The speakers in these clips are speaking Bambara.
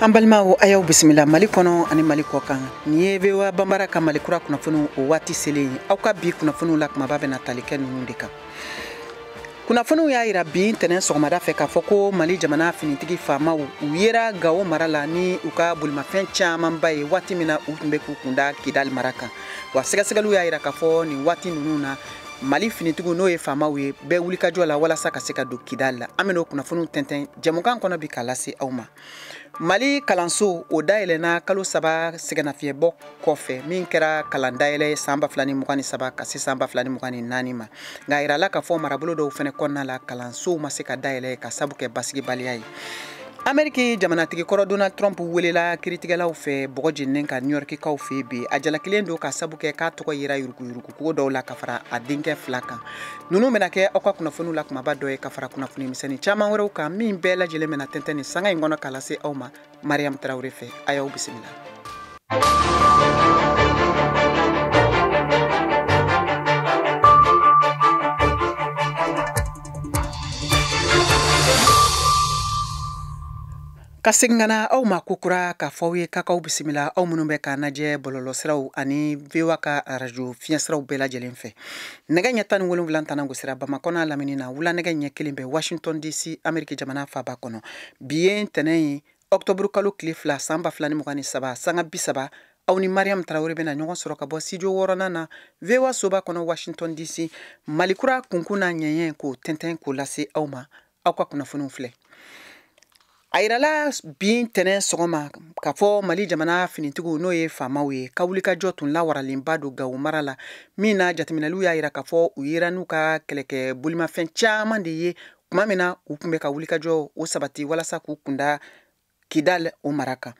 an balimaw a y'aw bisimila mali kɔnɔ ani mali kɔ kan nin ye voa banbara ka mali kura kunnafoniw o waati selen ye aw ka bi kunnafoniw la kumaba bɛna tali kɛ ninnu de kan kunnafoniw y'a yira bi ntɛnɛn sɔgɔmada fɛ k'a fɔ ko mali jamana finitigi faamaw u yera gawo mara la ni u ka bolimafɛn camanba ye waati min na u tun bɛ k'u kunda kidali mara kan wa sɛgɛsɛgɛliw y'a yira k'a fɔ nin waati ninnu na mali finitigiw n'o ye faamaw ye bɛ wulikajɔ la walasa ka se ka don kidali la an bɛn'o kunnafoniw tɛntɛn jɛmukan kɔnɔ bi k'a lase aw ma mali kalanso o dayɛlɛna kalo saba sɛgɛnafiyɛbɔ kɔfɛ min kɛra kalan dayɛlɛ san ba fila ni mugan ni saba ka se san ba fila ni mugan ni naani ma nka a yirala k'a fɔ marabolo dɔw fana kɔnɔna la kalansow ma se ka dayɛlɛ ka sabu kɛ basigibaliya ye ameriki jamanatigi kɔrɔ donald trump welela kiritigɛlaw fɛ bɔgɔ jeninen ka niyɔrikikaw fɛ bi a jalakilen don ka sabu kɛ k'a tɔgɔ yera yuruguyurugu ko dɔw la ka fara a denkɛ fila kan ninnu bɛna kɛ aw ka kunnafoniw la kumaba dɔ ye ka fara kunnafoni misɛnnin caman wɛrɛw kan min bɛɛ lajɛlen bɛna tɛntɛn nin sanga in kɔnɔ k'a lase aw ma mariyamu tarawele fɛ a y'aw bisimila Ka segin ka na aw ma kokura k'a fɔ aw ye ka k'aw bisimila aw minnu bɛ k'an lajɛ bɔlɔlɔsiraw ani voa ka arajo fiɲɛsiraw bɛɛ lajɛlen fɛ nɛgɛ ɲɛ tan ni wolonwula tango sira bamakɔ n'a lamini na wula nɛgɛ ɲɛ kelen bɛ washington dc ameriki jamana faba kɔnɔ bi ye ntɛnɛn ye ɔkutɔburu kalo tile fila san ba fila ni mugan ni saba sanga bi saba aw ni mariam tarawele bɛna ɲɔgɔn sɔrɔ ka bɔ studio wɔɔrɔnan na voa soba kɔnɔ washington dc mali kura kunkun n'a ɲɛɲɛ k'o tɛntɛn k'o lase aw ma aw ka kunnafoniw filɛ a yirala bi ntɛnɛn sɔgɔma k'a fɔ mali jamana finitigiw n'o ye faamaw ye ka wulikajɔ tun lawaralenba don gawo mara la min na jateminɛliw y'a yira k'a fɔ u yera n'u ka kɛlɛkɛ bolimafɛn caman de ye tuma min na u tun bɛ ka wulikajɔ o sabati walasa k'u kunda kidal o mara kan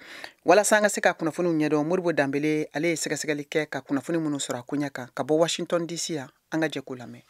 walasa an ka se ka kunnafoniw ɲɛdɔn modibo danbele ale ye sɛgɛsɛgɛli kɛ ka kunnafoni minnu sɔrɔ a koɲɛ kan ka bɔ washington dc yan an ka jɛ k'o lamɛn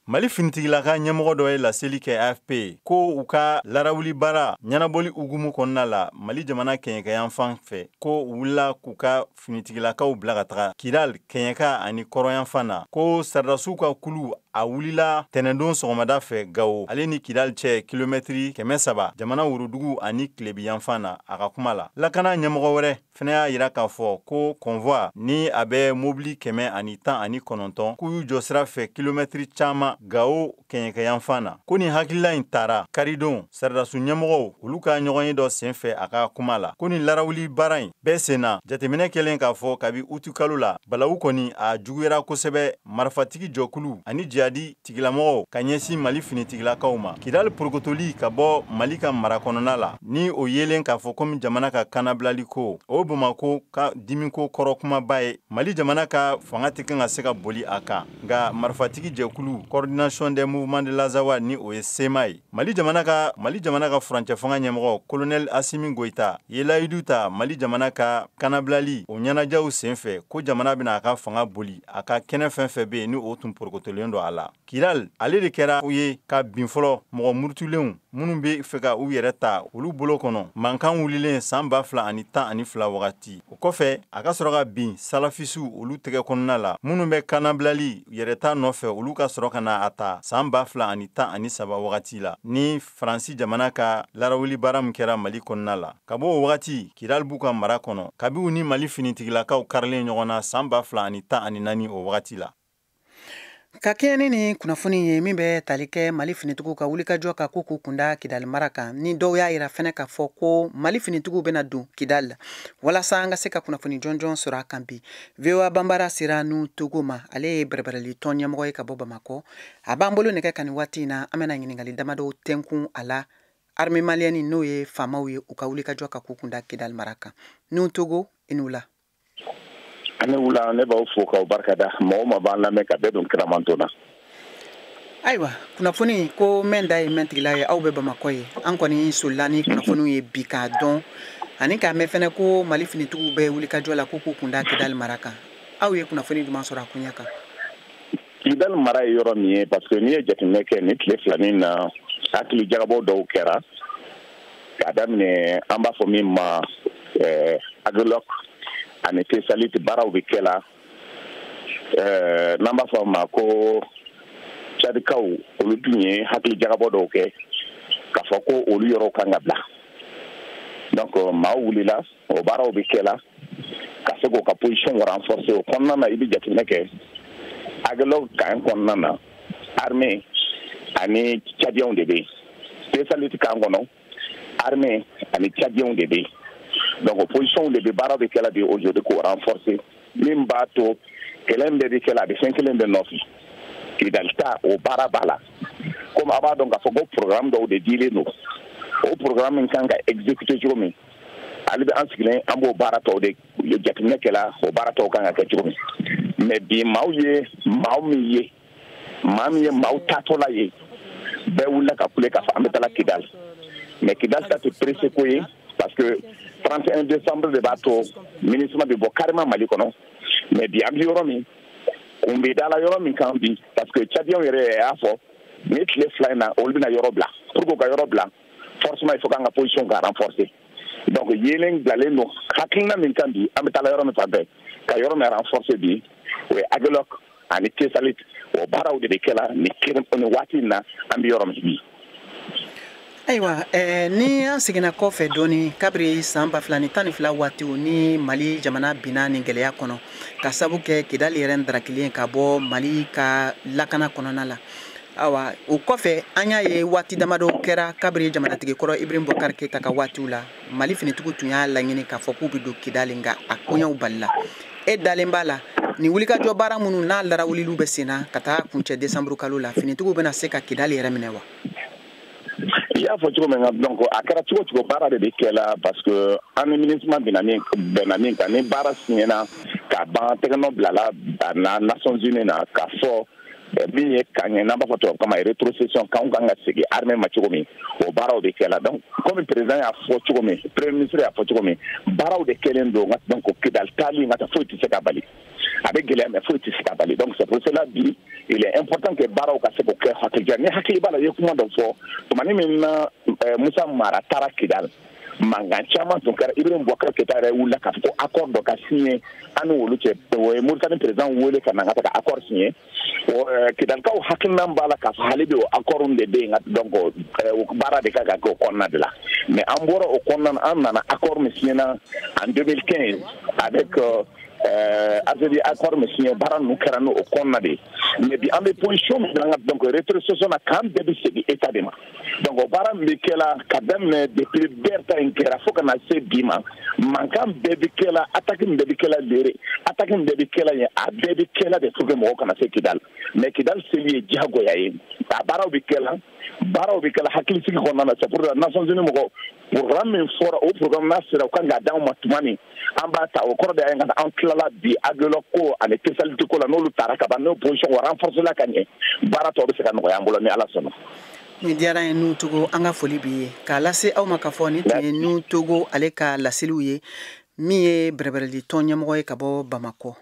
Mali finitigilaka ɲɛmɔgɔ dɔ ye laseli kɛ AFP ye ko u ka larawuli baara ɲɛnabɔli hukumu kɔnɔna la Mali jamana kɛɲɛkayanfan fɛ ko u wulila k'u ka finitigilakaw bila ka taga Kidal kɛɲɛka ani kɔrɔnyanfan na ko sɔrɔdasiw ka kulu a wulila ntɛnɛndon sɔgɔmada fɛ Gawo ale ni Kidal cɛ kilomɛtiri kɛmɛ saba jamana worodugu ani tilebinyanfan na a ka kuma la lakana ɲɛmɔgɔ wɛrɛ fɛnɛ y'a yira k'a fɔ ko convoi ni a bɛ mobili kɛmɛ ani tan ani kɔnɔntɔn k'u y'u jɔ sira fɛ kilomɛtiri caman gawo kɛɲɛkɛyanfan na ko nin hakilila in tara karidon saradasu ɲɛmɔgɔw olu ka ɲɔgɔnye dɔ sen fɛ a ka kuma la ko nin larawuli baara in bɛɛ sen na jateminɛ kɛlen k'a fɔ kabi utukalo la balawu kɔni a juguyara kosɛbɛ marifatigi jɛkulu ani jihadi tigilamɔgɔw ka ɲɛsin mali finitigilakaw ma kidali porokotoli ka bɔ mali ka mara kɔnɔna la ni o yelen k'a fɔ komi jamana ka kannabilali ko o bamako ka dimiko kɔrɔ kumaba ye mali jamana ka fanga tɛ kan ka se ka boli a kan nka marifatigi jɛkulu coordination des mouvements de l'azawad ni o ye sema ye mali jamana ka furancɛ fanga ɲɛmɔgɔ kolonɛl asimi goyita ye layidu ta mali jamana ka kannabilali o ɲɛnajɛw sen fɛ ko jamana bɛna a ka fanga boli a ka kɛnɛ fɛn fɛn bɛ yen ni o tun porokotolen don a la kidali ale de kɛra u ye ka bin fɔlɔ mɔgɔ murutulenw minnu bɛ fɛ ka u yɛrɛ ta olu bolo kɔnɔ mankan wulilen san ba fila ani tan ani fila wagati o kɔfɛ a ka sɔrɔ ka bin salafisiw olu tɛgɛ kɔnɔna la minnu bɛ kannabilali yɛrɛta nɔfɛ olu ka sɔrɔ ka na a ta san ba fila ani tan ani saba wagati la ni faransi jamana ka larawuli baara min kɛra mali kɔnɔna la ka bɔ o wagati kidali b'u ka mara kɔnɔ kabi u ni mali finitigilakaw karilen ɲɔgɔn na san ba fila ani tan ani naani o wagati la ka kɛɲɛ ni nin kunnafoni ye min bɛ tali kɛ mali finitigiw ka wulikajɔ ka ko k'u kunda kidali mara kan ni dɔw y'a yira fɛnɛ k'a fɔ ko mali finitigiw bɛna don kidali la walasa an ka se ka kunnafoni jɔnjɔn sɔrɔ a kan bi voa banbara sera nu togo ma ale ye bɛrɛbɛrɛli tɔn ɲɛmɔgɔ ye ka bɔ bamakɔ a b'an bolo nɛgɛ kan nin waati in na an bɛna ɲininkali damadɔw tɛnkun a la armée malienne n'o ye famaw ye u ka wulikajɔ ka k'u kunda kidali mara kan nu togo i ni wula a ni wula ne b'aw fo k'aw barika da mɔgɔ ma b'an lamɛn ka bɛɛ don kira mantɔn na ayiwa kunnafoni ko mɛn da ye mɛntigila ye aw bɛ bamakɔ yen an kɔni solila ni kunnafoniw ye bi k'a dɔn ani k'a mɛn fɛnɛ ko mali finitigiw bɛ wulikajɔ la ko k'u kunda kidali mara kan aw ye kunnafoni jumɛn sɔrɔ a koɲɛ kan kidali mara ye yɔrɔ min ye parce que n'i ye jateminɛ kɛ ni tile fila nin na hakili jagabɔ dɔw kɛra k'a daminɛ an b'a fɔ min ma eh, agilɔk ani tesaliti baaraw bɛ kɛ la eh, n'an b'a fɔ a ma ko cadikaw olu tun ye hakili jagabɔ dɔw kɛ k'a fɔ ko olu yɔrɔw kan ka bila donc maaw wulila o baaraw bɛ kɛ la ka se k'o ka position renforcer o kɔnɔna na i bɛ jateminɛ kɛ agilɔk camp kɔnɔna na armée ani cadiɛnw de bɛ yen tesaliti camp kɔnɔ armée ani cadiɛnw de bɛ yen donc o position de bɛ baaraw bɛ kɛ la bi aujourd'hui k'o renforcer min b'a to kɛlɛ in bɛɛ bɛ kɛ la a bɛ fɛn kelen de nɔfɛ kidali ta o baara b'a la komi a b'a dɔn k'a fɔ ko programme dɔw de dilen don o programme in kan ka exécuter cogo min hali bi an sigilen an b'o baara tɔw de jateminɛ kɛla o baara tɔw kan ka kɛ cogo min mais bi maaw ye maaw min ye maa min ye maaw taatɔla ye bɛɛ wulila ka kule k'a fɔ an bɛ taga kidal mais kidal taa tɛ pressé ko ye parce que 31 décembre de b'a to minusma bɛ bɔ carrément mali kɔnɔ mais bi an bɛ yɔrɔ min kun bɛ dala yɔrɔ min kan bi parce que tchadienw yɛrɛ y'a fɔ ni tile fila in na olu bɛna yɔrɔ bila pour que u ka yɔrɔ bila forcément il faut k'an ka position ka renforcer donc yeelen bilalen don hakilina min kan bi an bɛ taala yɔrɔ min fan fɛ ka yɔrɔ min renforcer bi o ye aguelhok ani tessalit o baaraw de bɛ kɛla nin waati in na an bɛ yɔrɔ min bi ayiwa eh, ni an seginna kɔfɛ dɔɔni kabiri saan ba fila ni tan ni fila waatiw ni mali jamana binna nin gɛlɛya kɔnɔ ka sabu kɛ kidali yɛrɛ n darakilen ka bɔ mali ka lakana kɔnɔna la awa o kɔfɛ an y'a ye waati damadɔ kɛra kabiri jamanatigi kɔrɔ ibrahim boubacar keita ka waatiw la mali finitigiw tun y'a laɲini k'a fɔ k'u bɛ don kidali nka a koɲɛw balila e dalen b'a la nin wulikajɔ baara minnu n'a larawuliliw bɛ senna ka taa kuncɛ desanburu kalo la finitigiw bɛna se ka kidali yɛrɛ minɛ wa i y'a fɔ cogo min na donc a kɛra cogo cogo baara de bɛ kɛ la parce que an ni minusma bɛnna min bɛnna min kan ni baara siɲɛna ka ban tɛgɛnɔ bilala a na nations unies na k'a fɔ min ye camp ye n'an b'a fɔ tubabukan na rétrocession campw kan ka segin armée ma cogo min o baaraw de kɛla donc comme président y'a fɔ cogo min premier ministre y'a fɔ cogo min baaraw de kɛlen don donc kidal taali nka ta foyi tɛ se k'a bali a bɛ gɛlɛya mais foyi tɛ se k'a bali donc c'est pour cela bi il est important que baaraw ka se k'o kɛ hakilija n'i hakili b'a la i ye kuma dɔ fɔ tumani min na musa mara taara kidal mankan caman tun kɛra ibrahim boubacar keita yɛrɛ wulila k'a fɔ ko accord dɔ ka siɲɛ an n'olu cɛ u ye mauritanie président wele ka na ka taga accord siɲɛ kidalikaw hakilinan b'a la k'a fɔ hali bi o accord de bɛ yen donc baara de kan ka kɛ o kɔnɔna de la mais an bɔra o kɔnɔna na an nana accord min siɲɛna en 2015 avec algérie accord min siɲɛ baara ninnu kɛra n'o kɔnɔna de ye mais bi an bɛ position min na donc rétrocession na camp bɛɛ bɛ segin état de ma donc baara min bɛ kɛla ka daminɛ depuis ber ta in kɛra fo ka na se bi ma mankan bɛɛ bɛ kɛla attaque min bɛɛ bɛ kɛla lere attaque min bɛɛ bɛ kɛla yen a bɛɛ bɛ kɛla de pour que mɔgɔ kana se kidali mais kidali seli ye diyagoya ye a baaraw bɛ kɛla baaraw bɛ kɛla hakilisigi kɔnɔna na c'est pour la nations unies mɔgɔ programme min fɔra o programme n'a sera u kan k'a d'anw ma tuma min an b'a ta o kɔrɔ de ye n'an tilala bi aguelhok ko ani tessalit ko la n'olu taara ka ban n'o position o renforcéla ka ɲɛ baara tɔw bɛ se ka nɔgɔya an bolo ni ala sɔnna nin diyara an ye nouhoum togo an ka foli b'i ye k'a lase aw ma k'a fɔ nin tun ye nouhoum togo ale ka laseliw ye min ye bɛrɛbɛrɛli tɔn ɲɛmɔgɔ ye ka bɔ bamakɔ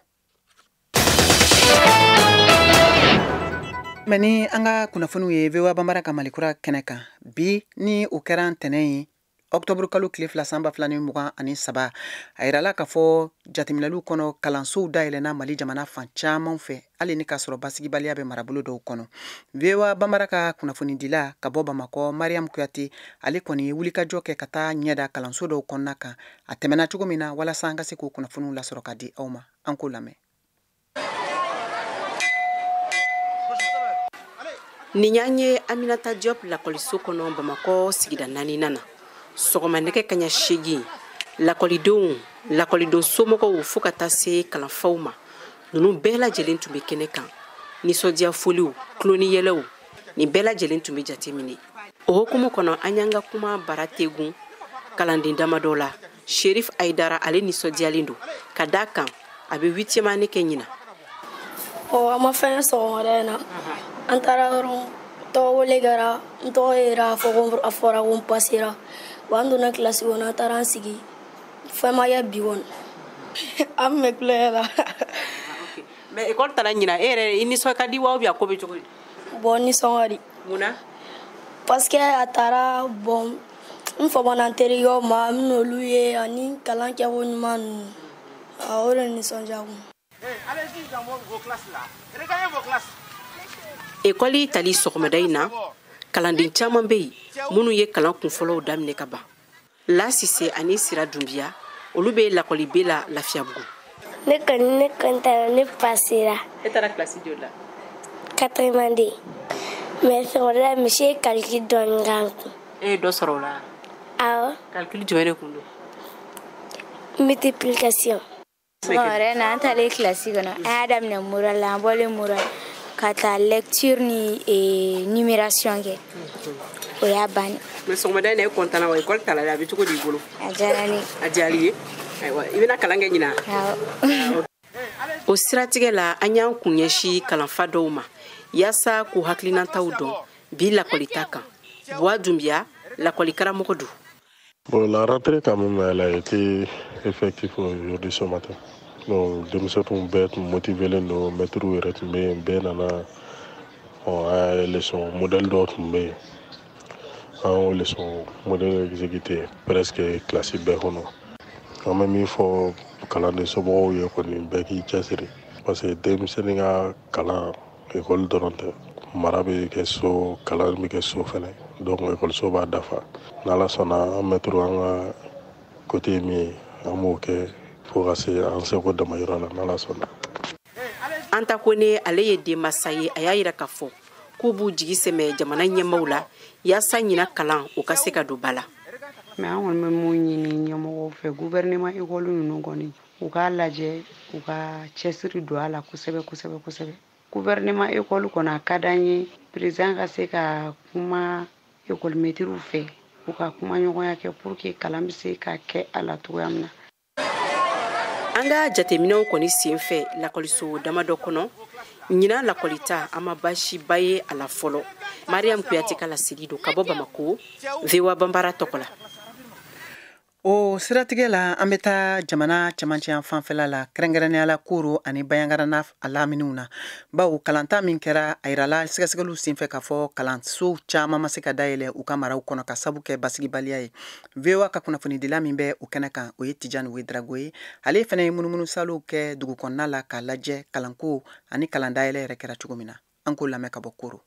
mɛ ni an ka kunnafoniw ye voa banbara ka malikura kɛnɛ kan bi ni o kɛra ntɛnɛn ye ɔktɔburu kalo tile fila san ba fila ni mugan ani saba a yirala k'a fɔ jateminɛliw kɔnɔ kalansow dayɛlɛnna mali jamana fan camanw fɛ hali ni k'a sɔrɔ basigibaliya bɛ marabolo dɔw kɔnɔ voa bamara ka kunnafonidila ka bɔ bamakɔ mariam kuyate ale kɔni ye wulikajɔ kɛ ka taa ɲɛda kalanso dɔw kɔnɔna kan a tɛmɛna cogo min na walasa an ka se k'o kunnafoniw lasɔrɔ ka di aw ma an k'o lamɛn nin y'an ye aminata diop lakɔliso kɔnɔ bamakɔ sigida naaninan na sɔgɔma nɛgɛ kaɲa seegin lakɔlidenw lakɔliden somɔgɔw fɔɔ ka taa se kalanfaw ma ninnu bɛɛ lajɛlen tun bɛ kɛnɛ kan nisɔndiya foliw tulon ni yɛlɛw nin bɛɛ lajɛlen tun bɛ jateminɛ o hukumu kɔnɔ an y'an ka kuma bara tegun kalanden damadɔ la sherif aidara ale nisɔndiyalen don ka da kan a bɛ huitième année kɛ ɲina ɔ an ma fɛn sɔgɔmada in na an taara dɔrɔn tɔgɔ wele kɛra n tɔgɔ yera a fɔ ko a fɔra ko n pasera wa an donna kilasi kɔnɔ an taara an sigi fɛn ma kɛ bi kɔni an bɛ tulonkɛ la mais ekɔli tara ɲina e yɛrɛ i nisɔn ka di wa a ko bɛ cogo di bon nisɔn ka di mun na parce que a taara bon n famana n terikɛw ma n n'olu ye ani kalan kɛko ɲuman ninnu o de nisɔndiya kun ekɔli tali sɔgɔmada in na kalanden caman bɛ yen minnu ye kalan kunfɔlɔw daminɛ ka ban la sise ani sira dunbiya olu bɛ lakɔli be la lafiyabugu ne kɔni ne kɔntana ne pasera e taara kilasi joli la quatrième année mais sɔgɔmada monsieur ye calcul dɔɔni k'an kun e ye dɔ sɔrɔ o la awɔ calcul jumɛn de tun don multiplication wɛrɛ na an taalen kilasi kɔnɔ an y'a daminɛ morale la an bɔlen morale ka taa lecture ni eh, numération kɛ o y'a banni mais sɔgɔmada in na e kɔntana wa ekɔli tara dɛ a bɛ cogo di i bolo a diyara ne ye a diyara i ye ayiwa i bɛna kalan kɛ ɲina awɔ o siratigɛ la an y'an kun ɲɛsi kalanfa dɔw ma yaasa k'u hakilinataw dɔn bi lakɔlita kan buwa dunbiya lakɔlikaramɔgɔ don Bon, la rentrée quand même, elle a été effective aujourd'hui ce matin. Donc, denmisɛn tun bɛɛ tun motivelen don mɛtiriw yɛrɛ tun bɛ yen bɛɛ nana ɔ an ye leçon modèle dɔw tun bɛ yen an y'o leçon modèle exécuté presque kilasi bɛɛ kɔnɔ an bɛ min fɔ kalanden somɔgɔw ye kɔni bɛɛ k'i cɛsiri parce que denmisɛnnin ka kalan ekɔli dɔrɔn tɛ mara bɛ kɛ so kalan bɛ kɛ so fɛnɛ donc ekɔliso b'a dafa n'ala sɔnna an mɛtiri an ka kote ye min ye an b'o kɛ fo ka se an seko damayira la n'ala sɔnna anta kone ale ye denmasa ye a y'a yira k'a fɔ k'u b'u jigi sɛmɛ jamana ɲɛmaaw la yaasa ɲina kalan o ka se ka don ba la mais an kɔni bɛ mun ɲini ɲɛmɔgɔw fɛ guvɛrɛnɛman ekɔli ninnu kɔni u k'a lajɛ u ka cɛsiri don a la kosɛbɛ kosɛbɛ kosɛbɛ guvɛrɛnɛman ekɔli kɔnɔ a ka d'an ye perezidan ka se ka kuma ekɔlimɛtiriw fɛ u ka kuma ɲɔgɔnya kɛ pour que kalan bɛ se ka kɛ a la cogoya min na an ka jateminɛw kɔni sen fɛ lakɔliso dama dɔ kɔnɔ ɲina lakɔlita an ma baasiba ye a la fɔlɔ mariam kuyate ka laseli don ka bɔ bamako voa banbara tɔgɔ la o siratigɛ la an bɛ taa jamana cɛmancɛ yanfan fɛla la kɛrɛnkɛrɛnnenya la koro ani bayangara n'a laminiw na bawo kalanta min kɛra a yirala sɛgɛsɛgɛliw senfɛ k'a fɔ kalansow caman ma se ka dayɛlɛ u ka maraw kɔnɔ ka sabu kɛ basigibaliya ye voa ka kunnafonidila min bɛ o kɛnɛ kan o ye tijani wedrago ye ale fana ye munumunu saalow kɛ dugu kɔnɔna la k'a lajɛ kalanko ani kalan dayɛlɛ yɛrɛ kɛra cogo min na an k'o lamɛn ka bɔ koro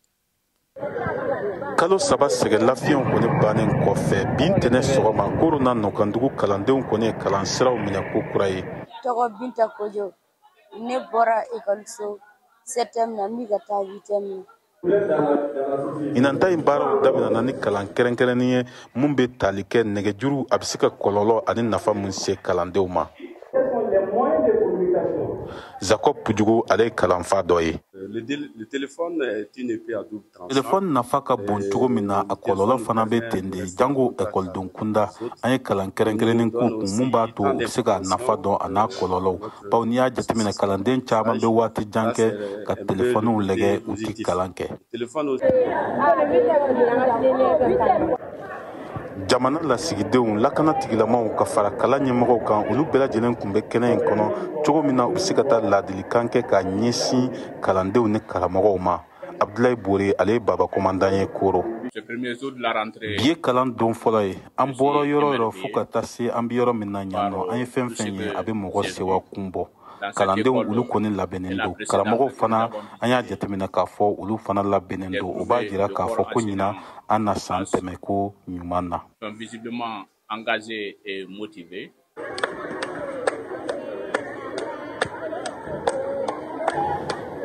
kalo saba sɛgɛn lafiɲɛw kɔni bannen kɔfɛ bi ntɛnɛ sɔgɔma koro n'a nɔkandugu kalandenw kɔni ye kalan siraw minɛ ko kura ye tɔgɔ binta kojo ne bɔra ekɔliso sɛtɛm na n bɛ ka taa witɛm na ɲinan ta in baaraw daminɛna ni kalan kɛrɛnkɛrɛnnin ye min bɛ tali kɛ nɛgɛjuru a bɛ se ka kɔlɔlɔ ani nafa min se kalandenw ma zakob pujugu ale ye kalanfa dɔ ye Euh, le, le téléphone est une épée à double tranchant. Téléphone nafa ka bon cogo min na a kɔlɔlɔ fana bɛ ten de jango ekɔliden kunda an ye kalan kɛrɛnkɛrɛnnen k'u kun mun b'a to u bɛ se ka nafa dɔn a n'a kɔlɔlɔw bawo n'i y'a jateminɛ kalanden caman bɛ waati jan kɛ ka telefɔniw lajɛ u tɛ kalan kɛ. jamana lasigidenw lakana tigilamaw ka fara kalan ɲɛmɔgɔw kan olu bɛɛ lajɛlen kun bɛ kɛnɛ in kɔnɔ cogo min na u bɛ se ka taa laadilikan kɛ ka ɲɛsin kalandenw ni karamɔgɔw ma abdulayi bore ale ye baba kɔmandan ye koro bi ye kalan don fɔlɔ ye an bɔra yɔrɔ yɔrɔ fɔɔ ka taa se an be yɔrɔ min na ɲan nɔ an ye fɛn fɛn ye a be mɔgɔ sewa kun bɔ kalandenw olu kɔni labɛnnen don karamɔgɔw fana an y'a jateminɛ k'a fɔ olu fana labɛnnen don o b'a jira k'a fɔ ko ɲina an na san tɛmɛ ko ɲuman na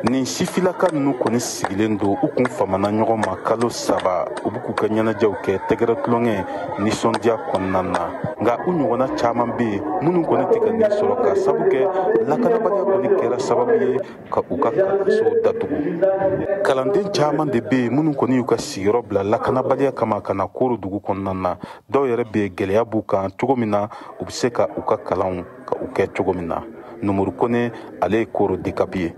nin sifilaka ninnu kɔni sigilen don u kun famana ɲɔgɔn ma kalo saba u bɛ k'u ka ɲɛnajɛw kɛ tɛgɛrɛ tulonkɛ nisɔndiya kɔnɔna na nka u ɲɔgɔnna caman bɛ yen minnu kɔni tɛ ka nin sɔrɔ k'a sabu kɛ lakanabaliya kɔni kɛra sababu ye ka u ka kalansow datugu kalanden caman de bɛ yen minnu kɔni y'u ka sigiyɔrɔ bila lakanabaliya kama ka na koro dugu kɔnɔna na dɔw yɛrɛ bɛ gɛlɛya b'u kan cogo min na u bɛ se ka u ka kalanw ka u kɛ cogo min na numuru kone ale ye koro dekapi ye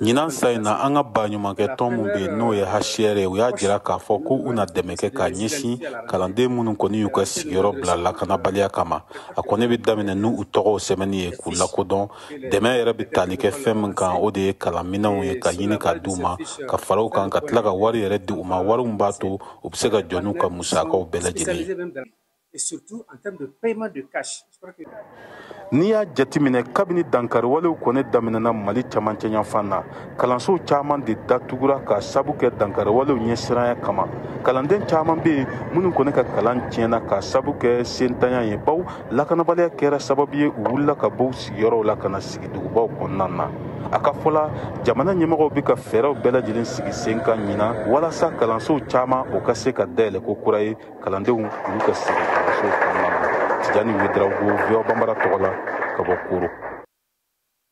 ɲinan san in na an ka baɲumankɛ tɔn min bɛ yen n'o ye hcr ye u y'a jira k'a fɔ ko u na dɛmɛ kɛ ka ɲɛsin kalanden minnu kɔni y'u ka sigiyɔrɔ bila lakanabaliya kama a kɔni bɛ daminɛ n'u tɔgɔw sɛbɛnni ye k'u lakodɔn dɛmɛ yɛrɛ bɛ tali kɛ fɛn min kan o de ye kalanminɛnw ye ka ɲini ka di u ma ka fara o kan ka tila ka wari yɛrɛ di u ma wari min b'a to u bɛ se ka jɔ n'u ka musakaw bɛɛ lajɛlen ye. N'i y'a jateminɛ kabini dankariwalew kɔni daminɛna Mali camancɛyanfan na, kalanso caman de datugura k'a sabu kɛ dankariwalew ɲɛsiranya kama. Kalanden caman bɛ yen minnu kɔni ka kalan tiɲɛna k'a sabu kɛ sentanya ye, bawo lakanabaliya kɛra sababu ye u wulila ka bɔ u sigiyɔrɔw la ka na sigi dugubaw kɔnɔna na a ka fɔ la jamana ɲɛmɔgɔw bɛ ka fɛɛrɛw bɛɛ lajɛlen sigi sen kan ɲinan walasa kalansow caman o ka se ka dayɛlɛ ko kura ye kalandenw olu ka sigi kalansow kɔnɔna na tijani wedarawogo voa banbara tɔgɔ la ka bɔ koro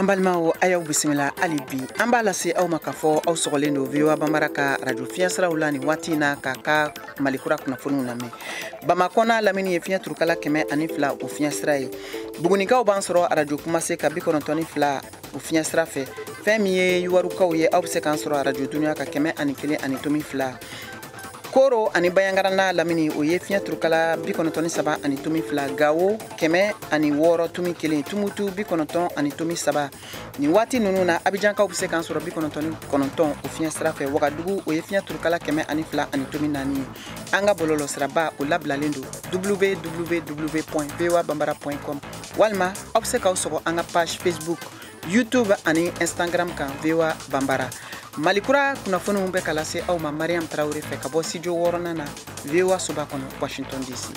an balimaw a y'aw bisimila hali bi an b'a lase aw ma k'a fɔ aw sɔgɔlen don voa banbara ka radio fiɲɛsiraw la nin waati in na k'an ka mali kura kunnafoniw lamɛn bamakɔ n'a lamini ye fiɲɛ turukala kɛmɛ ani fila o fiɲɛsira ye bugunikaw b'an sɔrɔ arajo kumase ka bi kɔnɔntɔn ni fila o fiɲɛsira fɛ fɛn min ye yuwarukaw ye aw bɛ se k'an sɔrɔ arajo dunuya ka kɛmɛ ani kelen ani tomi fila koro ani bayangara n'a lamini o ye fiɲɛ turukala bi kɔnɔntɔn ni saba ani tomi fila gawo kɛmɛ ani wɔɔrɔ tomi kelen tumutu bi kɔnɔntɔn ani tomi saba nin waati nunu na abijankaw bɛ se k'an sɔrɔ bi kɔnɔntɔn ni kɔnɔntɔn o fiɲɛ sira fɛ wagadugu o ye fiɲɛ turukala kɛmɛ ani fila ani tomi naani ye an ka bɔlɔlɔ siraba o labilalen don www voa banbara com walima aw bɛ se k'aw sɔgɔ an ka page facebook youtube ani instagram kan voa banbara mali kura kunnafoniw bɛ ka lase aw ma mariam tarawele fɛ ka bɔ studio wɔɔrɔnan na voa soba kɔnɔ washington dc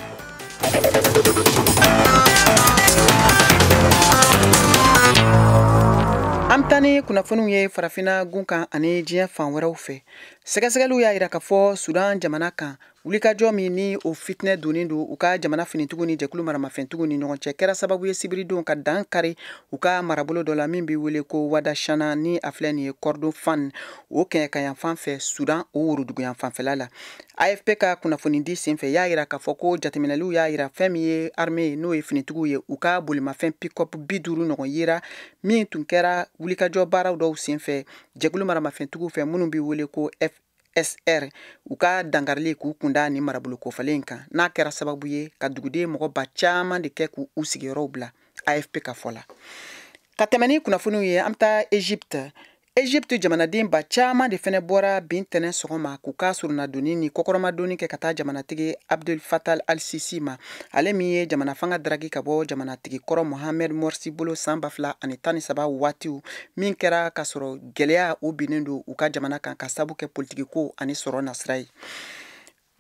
an bɛ taa ni kunnafoniw ye farafina gun kan ani diɲɛ fan wɛrɛw fɛ sɛgɛsɛgɛliw y'a jira k'a fɔ sudan jamana kan wulikajɔ min ni o fitinɛ donnen don u ka jamana finitigiw ni jɛkulu maramafɛntigiw ni ɲɔgɔn cɛ kɛra sababu ye sibiridenw ka dan kari u ka marabolo dɔ la min bɛ wele ko wadashana ni a filɛ nin ye kordofan o kɛɲɛka yanfan fɛ sudan o woroduguyan fanfɛla la afp ka kunnafoni di senfɛ y'a yira k'a fɔ ko jateminɛliw y'a yira fɛn min ye arme n'o ye finitigiw ye u ka bolimafɛn pikɔp bi duuru ɲɔgɔn yera min tun kɛra wulikajɔ baaraw dɔw senfɛ jɛkulu maramafɛntigiw fɛ minnu bɛ wele ko sr u ka dankarili k'u kunda ni marabolo kofɔlen kan n'a kɛra sababu ye ka duguden mɔgɔ ba caman de kɛ k'u sigiyɔrɔw bila afp ka fɔ la ka tɛmɛ ni kunnafoniw ye an bɛ taa egypte egypte jamanaden ba caman de fɛnɛ bɔra bi ntɛnɛ sɔgɔma k'u ka surunadonni ni kɔkɔrɔmadonni kɛ ka taa jamanatigi abdel fattah al sisi ma ale min ye jamana fanga daraki ka bɔ jamanatigi kɔrɔ mohamed morsi bolo san ba fila ani tan ni saba waatiw min kɛra ka sɔrɔ gɛlɛya o binnen don u ka jamana kan ka sabu kɛ politikiko ani sɔrɔ nasira ye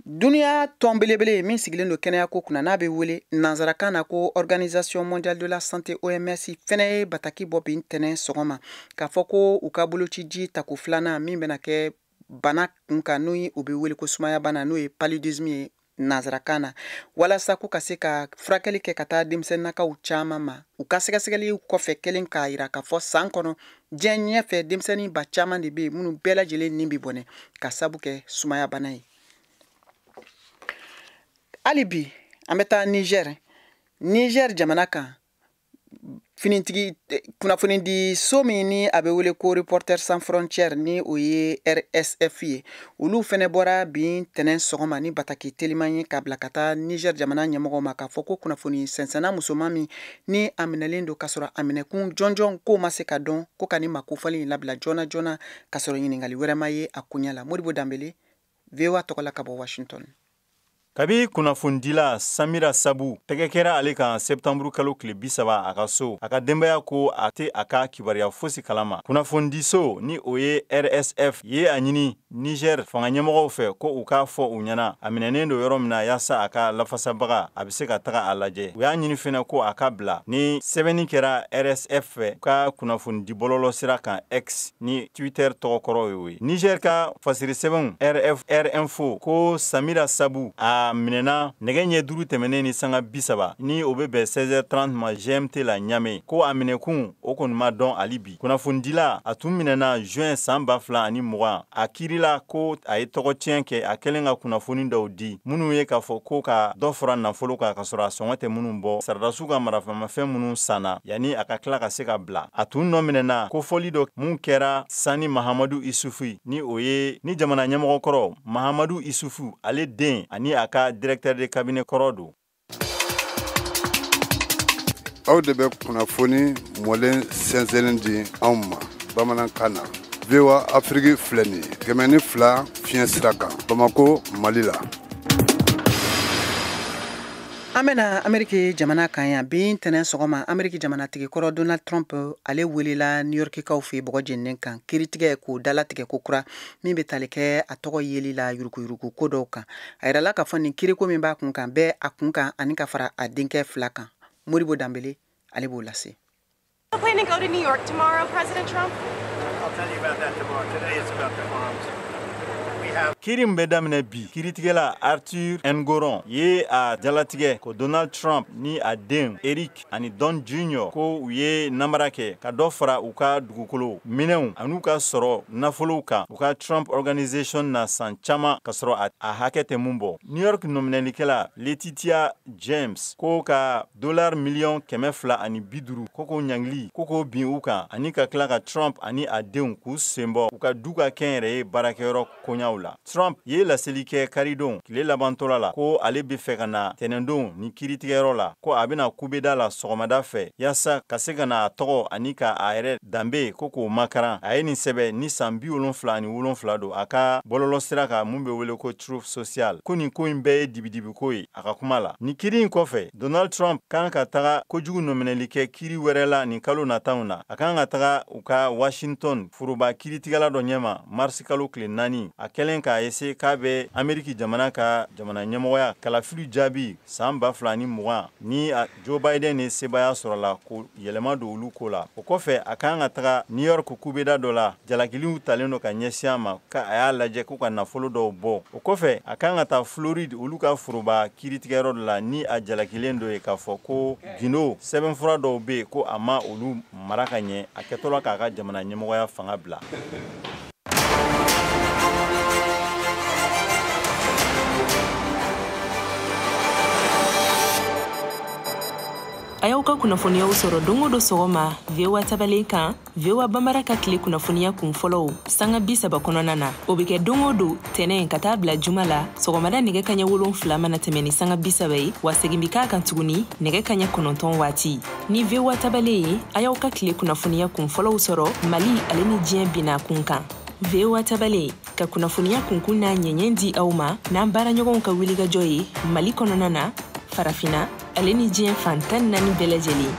duniya tɔn belebele min sigilen don kɛnɛyako kunna n'a bɛ wele nansarakan na ko organisation mondiale de la santé oms fɛnɛ ye bataki bɔ bi ntɛnɛ sɔgɔma k'a fɔ ko u ka bolociji tako filanan min bɛna kɛ bana kunkan n'o ye o bɛ wele ko sumaya bana n'o ye paludisme ye nanzarakan na walasa k'u ka se ka furakɛli kɛ ka taa denmisɛnninakaw caman ma u ka sɛgɛsɛgɛliw kɔfɛ kɛlen k'a yira k'a fɔ san kɔnɔ diɲɛ ɲɛfɛ denmisɛnnin ba caman de bɛ yen minnu bɛɛ lajɛlen ni bɛ bɔnɛ ka sabu kɛ sumayabana ye hali bi an bɛ taa nizɛri nizɛri jamana kan finitigi eh, kunnafoni di so min ni a bɛ wele ko reporters sans frontières ni o ye rsf ye olu fɛnɛ bɔra bi ntɛnɛn sɔgɔma ni bataki teliman ye k'a bila ka taa niger jamana ɲɛmɔgɔw ma k'a fɔ ko kunnafoni sɛnsɛnna musoman min ni a minɛlen don k'a sɔrɔ a minɛkun jɔnjɔn k'o ma se ka dɔn ko ka ni maa kofɔlen in labila joona joona k'a sɔrɔ ɲiningali wɛrɛ ma ye a koɲɛ la modibo danbele voa tɔgɔ la ka bɔ washington kabi kunnafonidila samira sabu tɛgɛ kɛra ale kan sɛptanburu kalo tile bi saba a ka so a ka denbaya ko a tɛ a ka kibaruya fosi kala ma kunnafonidiso ni o ye rsf ye a ɲini nizɛr fanga ɲɛmɔgɔw fɛ ko u k'a fɔ u ɲɛ na a minɛnen do yɔrɔ min na yaasa a ka lafasabaga a bɛ se ka taga a lajɛ u y'a ɲini fɛnɛ ko a ka bila ni sɛbɛnni kɛra rsf fɛ u ka kunnafonidibɔlɔlɔ sira kan x ni Twitter tɔgɔkɔrɔ y'o ye Niger ka fasiri sɛbɛnw RFR info ko Samira Sabu a minɛna nɛgɛ ɲɛ duuru tɛmɛnen ni sanga bi saba ni o bɛ bɛn 16h30 ma GMT la Ɲame ko a minɛkun o kɔni ma dɔn hali bi kunnafonidila a tun minɛna juin san ba fila ani mugan a kiirila ko a ye tɔgɔ tiɲɛ kɛ a kɛlen ka kunnafoni dɔw di minnu ye k'a fɔ ko ka dɔ fara nafolo kan ka sɔrɔ a sɔngɔ tɛ minnu bɔ sarada dasiw ka marafamafɛn minnu sanna yanni a ka tila ka se ka bila a tun nɔ minɛna kofɔli dɔ min kɛra sani mahamadu isufu ni o ye ni jamana ɲɛmɔgɔ kɔrɔ mahamadu isufu ale den ani a ka directeur de cabinet kɔrɔ don aw de bɛ kunnafoni mɔlen sɛnsɛnlen di anw ma bamanankan na voa afiriki filɛ nin ye kɛmɛ ni fila fiɲɛ sira kan bamako mali la an bena ameriki jamana kan yan bi tɛnɛn sɔgɔma ameriki jamanatigi kɔrɔ donald trump ale welela niyɔrikikaw fɛ bɔgɔ jeninen kan kiritigɛ k'o dalatigɛ ko kura min be tali kɛ a tɔgɔ yeli la yurukuyuruku ko dɔw kan a yirala k'a fɔ nin kiriko min b'a kun kan bɛɛ a kun kan ani ka fara a denkɛ fila kan modibo danbele ale b'o lase Planning to go to New York tomorrow, President Trump. I'll tell you about that tomorrow. Today it's about the farms. kiri min bɛ daminɛ bi kiritigɛla arthur engoron ye a jalatigɛ ko donald trump ni a den eric ani don junior ko u ye namara kɛ ka dɔ fara u ka dugukolo minɛnw an'u ka sɔrɔ nafolow kan u ka trump organisation na san caman ka sɔrɔ a hakɛ tɛ mun bɔ new york nɔminɛlikɛla letitia james ko ka Dollars miliyɔn kɛmɛ fila ani bi duuru ko k'o ɲangili ko k'o bin u kan ani ka tila ka Trump ani a denw k'u senbɔ u ka du ka kɛnyɛrɛye baarakɛyɔrɔ koɲaw la. Trump ye laseli kɛ karidon tile labantɔla la ko ale bɛ fɛ ka na tɛnɛndon ni kiiritigɛyɔrɔ la ko a bɛna kubeda la sɔgɔmada fɛ yasa ka se ka na a tɔgɔ ani ka a yɛrɛ danbe ko k'o makaran. A ye nin sɛbɛ ni san bi wolonfila ani wolonfila don a ka bɔlɔlɔsira kan min bɛ wele ko Truth Social ko nin ko in bɛɛ ye dibidibiko ye. a ka kuma la ni kiri in kɔfɛ donald trump kan ka taga kojugu nɔminɛli kɛ kiri wɛrɛ la nin kalo nataw na a kan ka taga u ka washington foroba kiritigɛla dɔ ɲɛma marisi kalo tile naani a kɛlen k'a ese k'a bɛ ameriki jamana ka jamana ɲɛmɔgɔya kalafili jaabi san ba fila ni mugan ni a Joe Biden ye sebaaya sɔrɔ la ko yɛlɛma don olu ko la o kɔfɛ a kan ka taga New York kubeda dɔ la jalakiliw talen don ka ɲɛsin a ma ka a y'a lajɛ ko ka nafolo dɔw bɔ o kɔfɛ a kan ka taa Floride olu ka foroba kiritigɛyɔrɔ dɔ la ni a jalakilen don yen k'a fɔ ko gindo sɛbɛnfura dɔw bɛ yen ko a ma olu mara ka ɲɛ a kɛtɔla k'a ka jamana ɲɛmɔgɔya fanga bila a y'aw ka kunnafoniyaw sɔrɔ don o don sɔgɔma voa tabalen kan voa bambara ka tile kunnafoniya kun fɔlɔw sanga bi saba kɔnɔna na o be kɛ don o don tɛnɛ ka taa bila juma la sɔgɔmada nɛgɛ kaɲɛ wolonfila mana tɛmɛ ni sanga bi saba ye wa segin be k'a kan tuguni nɛgɛ kaɲɛ kɔnɔntɔn waati ni voa tabale ye a y'aw ka tile kunnafoniya kun fɔlɔw sɔrɔ mali ale ni diɲɛ bina kun kan voa tabale ka kunnafoniya kunkun n'a ɲɛɲɛ di aw ma n'an baaraɲɔgɔnw ka wulikajɔ ye mali kɔnɔna na farafina ale ni diɲɛ fan tan ni naani bɛɛ lajɛlen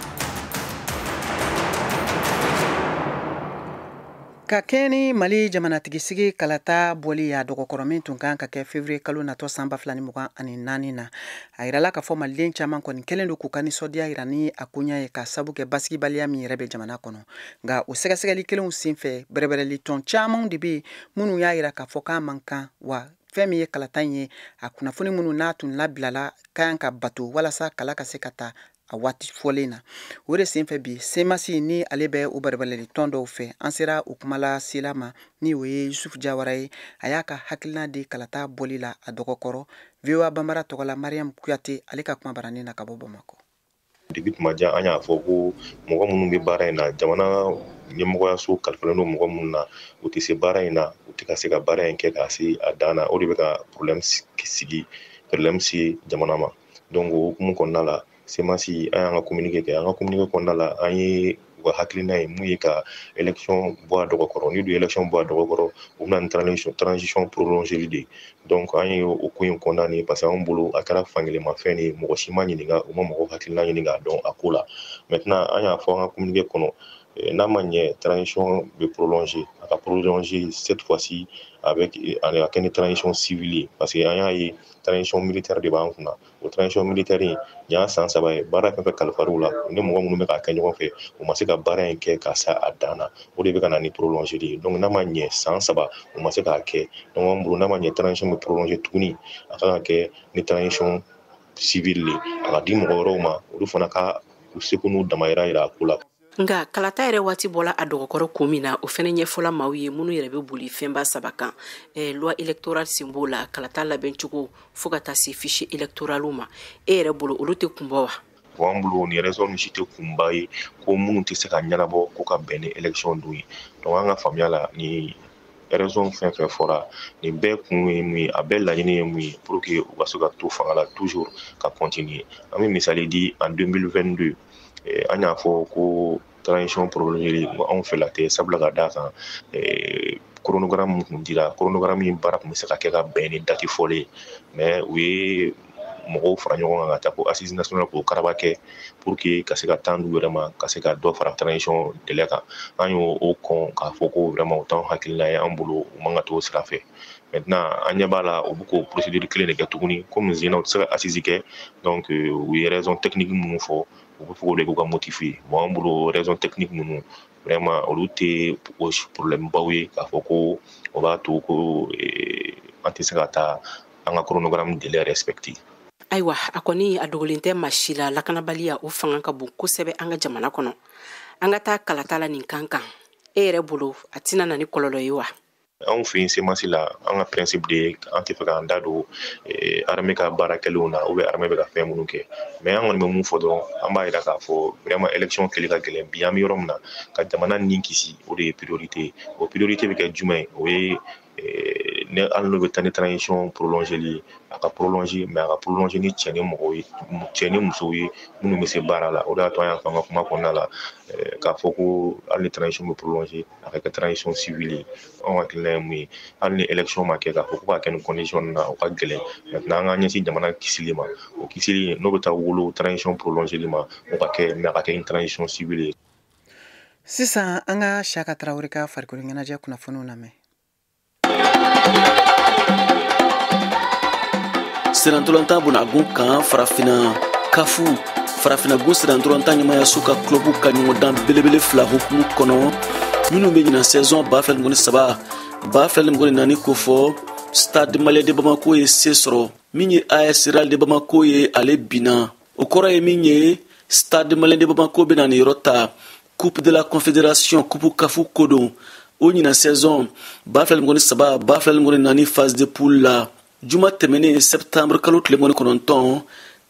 Ka kɛɲɛ ni mali jamanatigisigi kalata bɔli y'a dɔgɔkɔrɔ min tun kan ka kɛ février kalo natɔ san ba fila ni mugan ani naani na a yirala k'a fɔ maliden caman kɔni kɛlen don k'u ka nisɔndiya jira ni a koɲa ye ka sabu kɛ basigibaliya min yɛrɛ bɛ jamana kɔnɔ nka o sɛgɛsɛgɛli kelenw senfɛ bɛrɛbɛrɛli tɔn camanw de bɛ minnu y'a jira k'a fɔ k'a man kan wa fɛn min ye kalata in ye a kunnafoni minnu n'a tun labilala ka kan ka bato walasa kala ka se ka ta a waati fɔlen na o de senfɛ bi semasi ni ale bɛ o bɛrɛbɛrɛli tɔn dɔw fɛ an sera o kumalasela ma ni o ye yusufu jawara ye a y'a ka hakilina di kalata bɔli la a dɔgɔkɔrɔ voa banbara tɔgɔ la mariyamu kuyate ale ka kuma baranin na ka bɔ bamakɔ depuis tuma jan an y'a fɔ ko mɔgɔ minnu bɛ baara in na jamana ɲɛmɔgɔyaso kalifalen don mɔgɔ minnu na u tɛ se baara in na u tɛ ka se ka baara in kɛ ka se a dan na o de bɛ ka problème sigi problème se jamana ma donc o hukumu kɔnɔna la semasi an y'an ka kominike kɛ an ka kominike kɔnɔna la an ye u ka hakilina ye mun ye ka élection bɔ a dɔgɔ kɔrɔ ni du élection bɔ a dɔgɔ kɔrɔ u bɛ na ni transition transition prolongeli de ye donc an ye o ko in condamner parce que anw bolo a kɛra fankelenmafɛn de ye mɔgɔ si ma ɲininka u ma mɔgɔ hakilina ɲini k'a dɔn a ko la maintenant an y'a fɔ an ka kominike kɔnɔ eh, n'a ma ɲɛ transition bɛ prolonger a ka prolonger cette fois ci avec a kɛ ni transition civile ye parce que an y'a ye transition militaire de b'an kunna o transition militaire in y'a san saba ye baara fɛn fɛn kalifara u la ni mɔgɔ minnu bɛ k'a kɛ ɲɔgɔn fɛ u ma se ka baara in kɛ ka se a dan na o de bɛ ka na ni prolonger de ye donc n'a ma ɲɛ san saba u ma se k'a kɛ donc an bolo n'a ma ɲɛ transition bɛ prolonger tuguni a kan ka kɛ ni transition civile de ye a ka di mɔgɔ wɛrɛw ma olu fana ka u seko n'u damayira yira a ko la nka kalata yɛrɛ waati bɔla a dɔgɔkɔrɔ kun min na o fɛnɛ ɲɛfɔla maaw ye minnu yɛrɛ bɛ boli fɛnba saba kan eh, loi électorale sen b'o la kalata labɛn cogo fo ka taa se fichier électoral ma e yɛrɛ bolo olu tɛ kun bɔ wa an bolo nin raison ninnu si tɛ kunba ye ko minnu tɛ se ka ɲɛnabɔ k'o ka bɛn ni élection don ye donc an ka faamuya la nin raison fɛn fɛn fɔra nin bɛɛ kun ye mun ye a bɛɛ laɲini ye mun ye pour que u ka se ka to fanga la toujours ka continuer an bɛ misali di en 2022 an y'a fɔ ko transition prolongeli anw fɛla tɛ sabula ka d'a kan chronogramme min kun dira chronogramme in baara kun bɛ se ka kɛ ka bɛn ni dati fɔlen ye mais u ye mɔgɔw fara ɲɔgɔn kan ka taa ko assise nationale k'o karaba kɛ pour que ka se ka temps d'u yɛrɛ ma ka se ka dɔ fara transition délai kan an y'o kɔn k'a fɔ ko vraiment o t'anw hakilina ye an bolo u man ka t'o sira fɛ maintenant an ɲɛ b'a la u bɛ k'o procédure kelen de kɛ tuguni komi ɲinan u tɛ se ka assise kɛ donc u ye raison technique minnu fɔ u bɛ fɛ k'o de k'u ka motif ye bon an bolo raison technique ninnu vraiment olu tɛ problème baw ye k'a fɔ ko o b'a to ko an tɛ se ka taa an ka chronogramme délai respecter ayiwa a kɔni a dogolen tɛ maa si la lakanabaliya o fanga ka bon kosɛbɛ an ka jamana kɔnɔ an ka taa kalata la nin kan kan e yɛrɛ bolo a tɛna na ni kɔlɔlɔ ye wa anw fɛ yen cmas la an ka principe de ye an tɛ fɛ k'an da don eh, armée ka baara kɛlenw na ou bien armée bɛ ka fɛn minnu kɛ mais an kɔni bɛ mun fɔ dɔrɔn an b'a jira k'a fɔ vraiment élection kɛli ka gɛlɛn bi an bɛ yɔrɔ min na ka jamana nin kisi o de ye priorité ye o priorité bɛ kɛ jumɛn ye o ye eh, ne hali n'o bɛ taa ni transition prolongeli ye a ka prolonger mais a ka prolonger ni cɛ ni mɔgɔw ye cɛ ni musow ye minnu bɛ se baara la o de y'a to an y'a fɔ an ka kuma kɔnɔna la eh, k'a fɔ ko hali ni transition bɛ prolonger a ka kɛ transition civile ye anw hakilina ye mun ye hali ni élection ma kɛ k'a fɔ ko k'a kɛ nin condition na o ka gɛlɛn maintenant an k'an ɲɛsin jamana kisili ma o kisili n'o bɛ taa wolo transition prolongeli ma o ka kɛ mais a ka kɛ ni transition civile ye sisan an ka siyaka tarawele ka farikolo ɲɛnajɛ kunnafoniw lamɛn sennantolatan bunagun kan farafina caf farafinagun sennantolatan ɲɛmaayaso ka club ka ɲɔgɔndan belebele fila hukumu kɔnɔ minnu bɛ ɲinan saison ba fila ni mugan ni saba ba fila ni mugan ni naani kofɔ stade malien de bamako ye se sɔrɔ min ye as real de bamako ye ale binna o kɔrɔ ye min ye stade malien de bamako bɛn'a niyɔrɔ ta coupe de la confédération coupe caf ko don o ɲinan saison ba fila ni mugan ni saba ba fila ni mugan ni naani phase de poule la juma tɛmɛnen septembre kalo tile mugan ni kɔnɔntɔn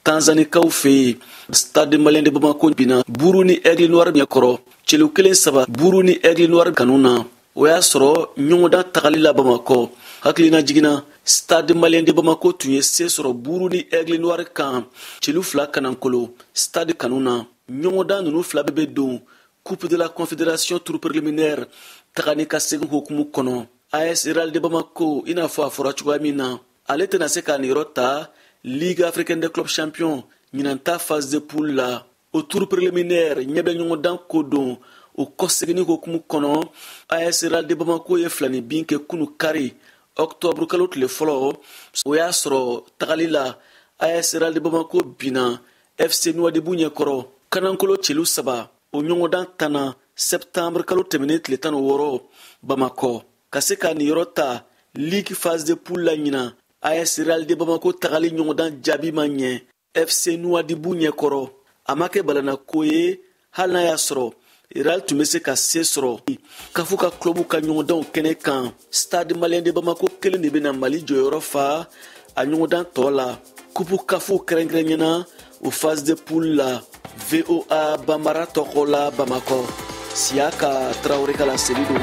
tanzanikaw fɛ yen stade malien de bamako binna burundi aigle noir ɲɛkɔrɔ celu kelen saba burundi aigle noir kanu na o y'a sɔrɔ ɲɔgɔndan tagali la bamakɔ hakililajigin na stade malien de bamako tun ye se sɔrɔ burundi aigle noir kan celu fila kanankolo stade kanu na ɲɔgɔndan nunu fila bɛɛ bɛ don coupe de la confédération tour préliminaire taga ni ka segin hukumu kɔnɔ as real de bamako i n'a fɔ a fɔra cogoya min na ale tɛna se k'a niyɔrɔ ta ligue africaine des clubs champions ɲinan ta phase de poule la o tour préliminaire ɲɛbɛɲɔgɔndan ko don o kɔseginni hukumu kɔnɔ as real de bamako ye filaninbin kɛ kunu kari octobre kalo tile fɔlɔ o y'a sɔrɔ tagali la as real de bamako binna fc nouadhibou ɲɛkɔrɔ kanankolo celu saba o ɲɔgɔndan tanna septembre kalo tɛmɛnen tile tan ni wɔɔrɔ bamakɔ ka se k'a niyɔrɔ ta ligue phase de poule la ɲinan as real de bamako tagali ɲɔgɔndan jaabi ma ɲɛ fc nouadhibou ɲɛkɔrɔ a ma kɛ balana ko ye hali n'a y'a sɔrɔ real tun bɛ se ka se sɔrɔ kafu ka kulɔbu ka ɲɔgɔndanw kɛnɛ kan stade malien de bamako kelen de bɛna mali jɔyɔrɔ fa a ɲɔgɔndan tɔ la kupu kafu kɛrɛnkɛrɛnɲɛna o phase de poule la voa bambara tɔgɔ la bamakɔ siyaka tarawele ka laseli don